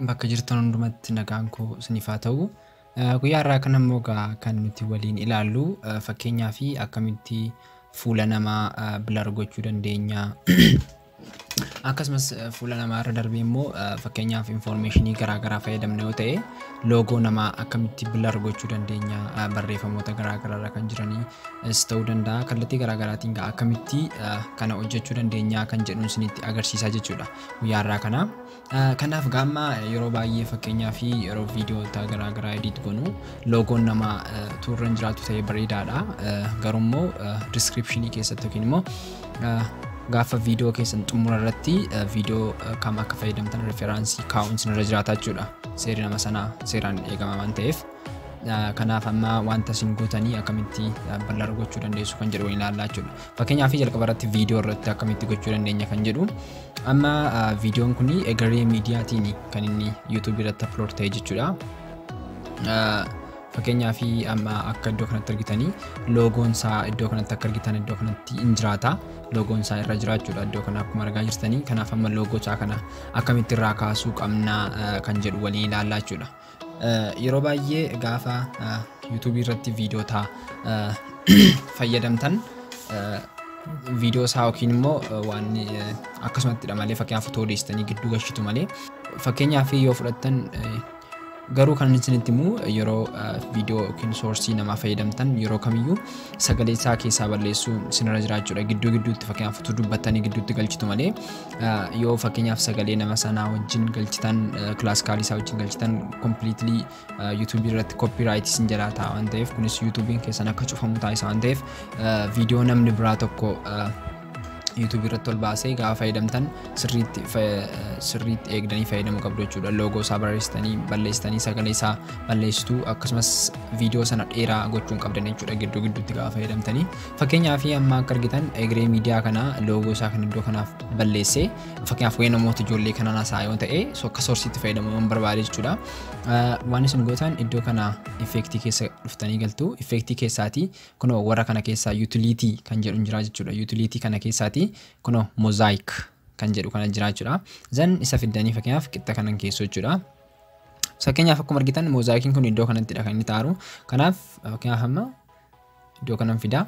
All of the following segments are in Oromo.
bakka jirtan hundumatti nagaan koo isiniif haa ta'u. Eh, Guyyaa irraa kan ammoo egaa kan nuti waliin ilaallu eh, fakkeenyaa fi akkamitti fuula namaa eh, blur gochuu dandeenya Akkasumas fuula namaa irra darbee immoo fakkeenyaaf infoormeeshinii garaagaraa fayyadamna yoo ta'e loogoo namaa akkamitti bilar gochuu dandeenya barreeffamoota garaagaraa irra kan jiranis ta'uu danda'a kallattii garaagaraatiin akkamitti kana hojjechuu dandeenya kan jedhuun isinitti agarsiisaa jechuudha guyyaa irraa kana. Kanaaf egaa amma yeroo baay'ee fakkeenyaaf yeroo viidiyoota garaa garaa edit gonu loogoon nama utuu irra hin jiraatu ta'ee bareedaadha. Garuu immoo diskiripshinii keessatti yookiin immoo gaafa viidiyoo keessan xumura irratti viidiyoo kam akka fayyadamtan referaansii kaa'uun isinirra jiraata jechuudha. Seerri nama sanaa seeraan eegama waan ta'eef. Kanaaf amma wanta isin gootanii akkamitti bal'aadha gochuu dandeessu kan jedhu waliin ilaallaa jechuudha. Fakkeenyaaf jalqaba irratti viidiyoo irratti akkamitti gochuu dandeenya kan jedhu amma viidiyoon kun egeree miidiyaatiin kan inni yuutuubii irratti aplood ta'e jechuudha. Fakkeenyaaf amma akka iddoo kanatti argitanii loogoon isaa iddoo kanatti akka argitan iddoo kanatti hin jiraata. Loogoon isaa irra jiraachuudha iddoo kana akkuma argaa jirtanii kanaaf amma loogoo isaa kana akkamitti irraa kaasuu qabna kan jedhu waliin ilaallaa jechuudha. Yeroo baay'ee gaafa yuutuubii irratti viidiyoota fayyadamtan viidiyoo isaa yookiin immoo waan akkasumattidha malee fakkeenyaaf otoo odeessitanii gidduu gashitu malee fakkeenyaaf yoo fudhattan garuu kan isinitti immoo yeroo viidiyoo yookiin soorsii namaa fayyadamtan yeroo kamiyyuu sagalee isaa keessaa balleessuu isinirra jiraachuudha gidduu gidduutti fakkeenyaaf utuu dubbattanii gidduutti galchitu malee yoo fakkeenyaaf sagalee nama sanaa wajjin galchitan kilaasikaalii isaa wajjin galchitan kompiliitilii yuutuubii irratti koppiraayit isin jalaa ta'a waan ta'eef kunis yuutuubiin keessan akka cufamu taasisa waan ta'eef viidiyoo namni biraa tokko yuutuubii irratti ol baasee gaafa fayyadamtan sirriitti sirriitti eegdanii fayyadamuu qabdu jechuudha loogoo isaa barreessitanii balleessitanii sagalee isaa balleessitu akkasumas viidiyoo sana dheeraa gochuun qabdan jechuudha gidduu gidduutti gaafa fayyadamtanii Fakkeenyaaf amma akka argitan egeree miidiyaa kanaa loogoo isaa kan iddoo kanaaf balleessee fakkeenyaaf waa'ee namoota ijoollee kanaan haasa'aa yoo ta'e so akka soorsiitti fayyadamuu yoon barbaade jechuudha. Ah, Waan isin gootan iddoo kana effeektii keessa dhuftanii galtu effeektii keessaatii kunoo warra kana keessaa yuutiliitii kan jedhu hin jira jechuudha. Yuutiliitii kana keessaatii kunoo mozaayik kan jedhu kana jira jechuudha. Zan isa fiddanii fakkeenyaaf qixxa kanan keessu jechuudha. Fakkeenyaaf akkuma argitan mozaayikiin kun iddoo kanattidha kan inni taaru. Kanaaf fakkeenyaaf amma Iddoo kanan fidaa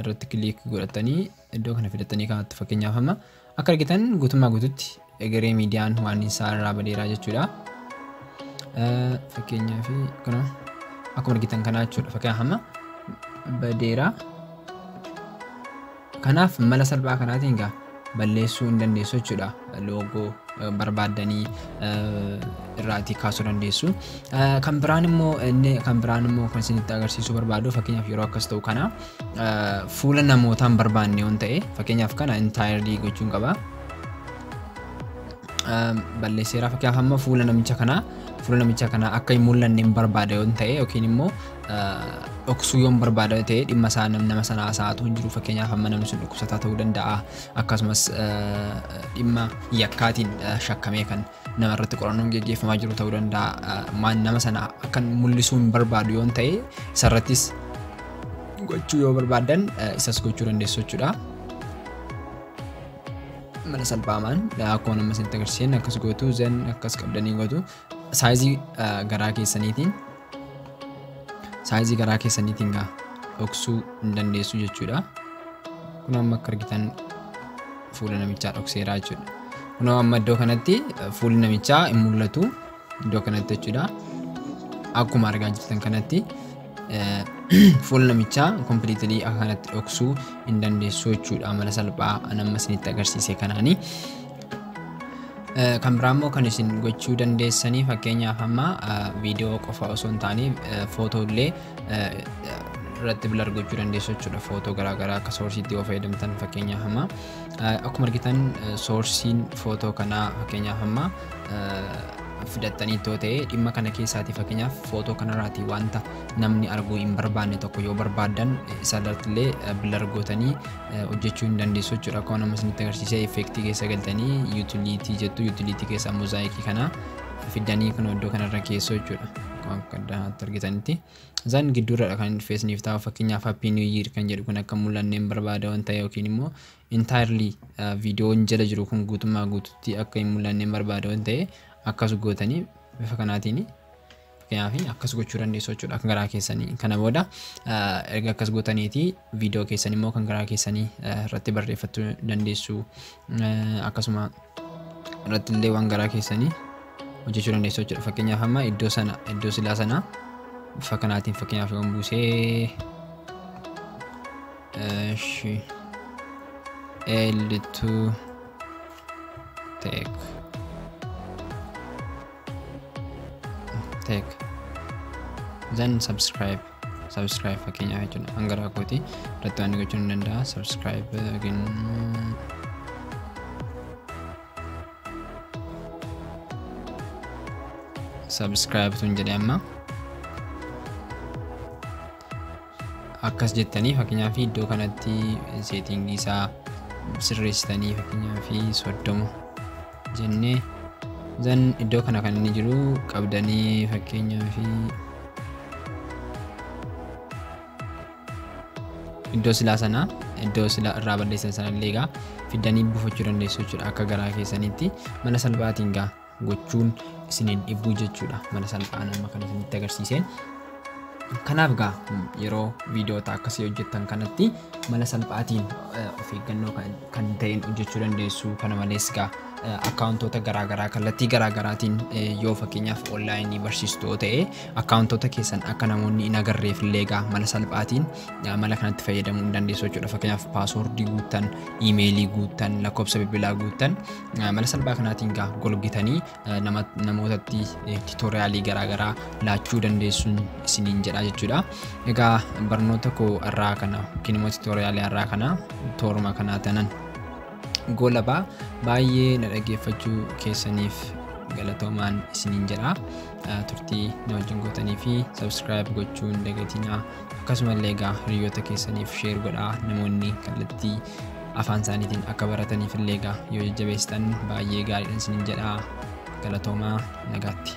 irratti kiliik godhatanii iddoo kana fidattanii kanatti fakkeenyaaf amma akka argitan guutummaa guututti egeree miidiyaan waan isaa irraa badeeraa jechuudha. Fakkeenyaaf kana akkuma argitan kanaa jechuudha. Fakkeenyaaf amma badeeraa. Kanaaf mala salphaa kanaatiin egaa balleessuu hin dandeessu jechuudha. Loogoo barbaaddanii irraatii kaasuu dandeessu. Kan biraan immoo inni kan biraan immoo kan isinitti agarsiisuu barbaadu fakkeenyaaf yeroo akkas ta'u kana fuula namootaa hin barbaanne yoon ta'e fakkeenyaaf kana intaayirlii gochuun qaba. Balleesseeraa fakkeenyaaf amma fuula namicha kanaa fuula namicha kanaa akka hin mul'anne hin barbaada yoon ta'e yookiin immoo dhoksuu yoon barbaadame ta'e dhimma isaa nam- nama sana haasa'aa otoo hin jiru fakkeenyaaf amma namni sun dhukkubsataa ta'uu danda'a akkasumas eh, dhimma yakkaatiin eh, shakkamee kan nama irratti qorannoon geggeeffamaa jiru ta'uu danda'a Eh, maan nama sana akkan mul'isuu hin barbaadu yoon ta'e isarrattis gochuu yoo barbaadan eh, isas gochuu dandeessu jechuudha. mana salphaamaan akkuma nama isinitti agarsiisan akkas gootu zen akkas qabdanii gootu saayizii eh, garaa keessaniitiin saayizii garaa keessaniitiin gaa dhoksuu hin dandeessu jechuudha. Kun amma akka argitan fuula namichaa dhokseeraa jechuudha. Kun amma iddoo kanatti fuulli namichaa hin mul'atu iddoo kanatti jechuudha. Akkuma argaa jirtan kanatti fuula namichaa kompiliitilii akka kanatti dhoksuu hin dandeessu jechuudha. Mala salphaa an amma isinitti agarsiise kanaanii. Kan biraa immoo kan isin gochuu dandeessanii fakkeenyaaf amma viidiyoo qofa osoo hin taane footoo illee irratti bilar gochuu dandeessu jechuudha. Footoo garaagaraa akka soorsiitti yoo fayyadamtan fakkeenyaaf amma akkuma argitan soorsiin footoo kanaa fakkeenyaaf amma fidattanii ittoo ta'e dhimma kana keessaati fakkeenyaaf footoo kanarraati wanta namni arguu hin barbaanne tokko yoo barbaaddan isarratti illee bilar gootanii hojjechuu hin dandeessu jechuudha. Akkuma nama isinitti agarsiisee effeektii keessa galtanii yuutiliitii jettu yuutiliitii keessaa mozaayikii kana fiddanii kun iddoo kanarra keessoo jechuudha. Akkuma akka addaatti argitanitti. Isaan gidduurradha kan feesniif taa'u fakkeenyaaf happy new year kan jedhu kun akka mul'anne hin barbaada waan ta'e yookiin immoo entirely viidiyoon jala jiru kun guutummaa guututti akka hin mul'anne hin barbaada waan ta'e akkas gootanii bifa kanaatiin Fakkeenyaaf akkas gochuu dandeessu jechuudha akka garaa keessanii. Kana booda erga akkas gootaniiti viidiyoo keessan immoo kan garaa keessanii irratti barreeffattu dandeessu. Akkasuma irratti illee waan garaa keessanii hojjechuu dandeessu jechuudha. Fakkeenyaaf amma iddoo sana iddoo silaa sana bifa kanaatiin fakkeenyaaf yoon buusee Eshi L2 Tech tek then subscribe subscribe fakkeenyaaf jechuudha hanga raakootii irratti waan gochuun ni danda'a subscribe yookiin subscribe tun jedhe amma Akkas jettanii fakkeenyaaf iddoo kanatti seetiingii isaa sirreessitanii fakkeenyaaf soddoma jennee zan iddoo kana kan inni jiru qabdanii fakkeenyaaf iddoo silaa sana iddoo silaa irraa balleessan sana illee egaa fiddanii buufachuu dandeessu jechuudha akka garaa keessanitti mala salphaatiin gaa gochuun isin hin dhibbuu jechuudha mala salphaan amma kan isinitti agarsiiseen. Kanaaf gaa yeroo viidiyoota akkasii hojjettan kanatti mala salphaatiin of eeggannoo kan ta'een hojjechuu dandeessu kana malees gaa akkaawuntoota garaagaraa kallattii garaagaraatiin yoo fakkeenyaaf onlaayinii barsiistu yoo ta'e akkaawuntoota keessan akka namoonni hin agarreef illee gaa mala salphaatiin mala kanatti fayyadamuu hin dandeessu jechuudha fakkeenyaaf paasoordii guuttan iimeelii guuttan lakkoofsa bilbilaa guuttan mala salphaa kanaatiin egaa golgitanii namootatti titoriyaalii garaagaraa laachuu dandeessuun isiniin jedha jechuudha. Egaa barnoota koo irraa kana yookiin immoo titoriyaalii irraa kana tooruma kanaa tanan goolabaa baay'ee na dhaggeeffachuu keessaniif galatoomaan isiniin jedha. Turtii na wajjin gootanii fi sabskiraayib gochuun dagatinaa. Akkasuma illee egaa hiriyoota keessaniif sheer godhaa namoonni kallattii afaan isaaniitiin akka barataniif illee egaa yoo jajjabeessitan baay'ee gaariidhan isinin jedhaa galatoomaa nagaatti.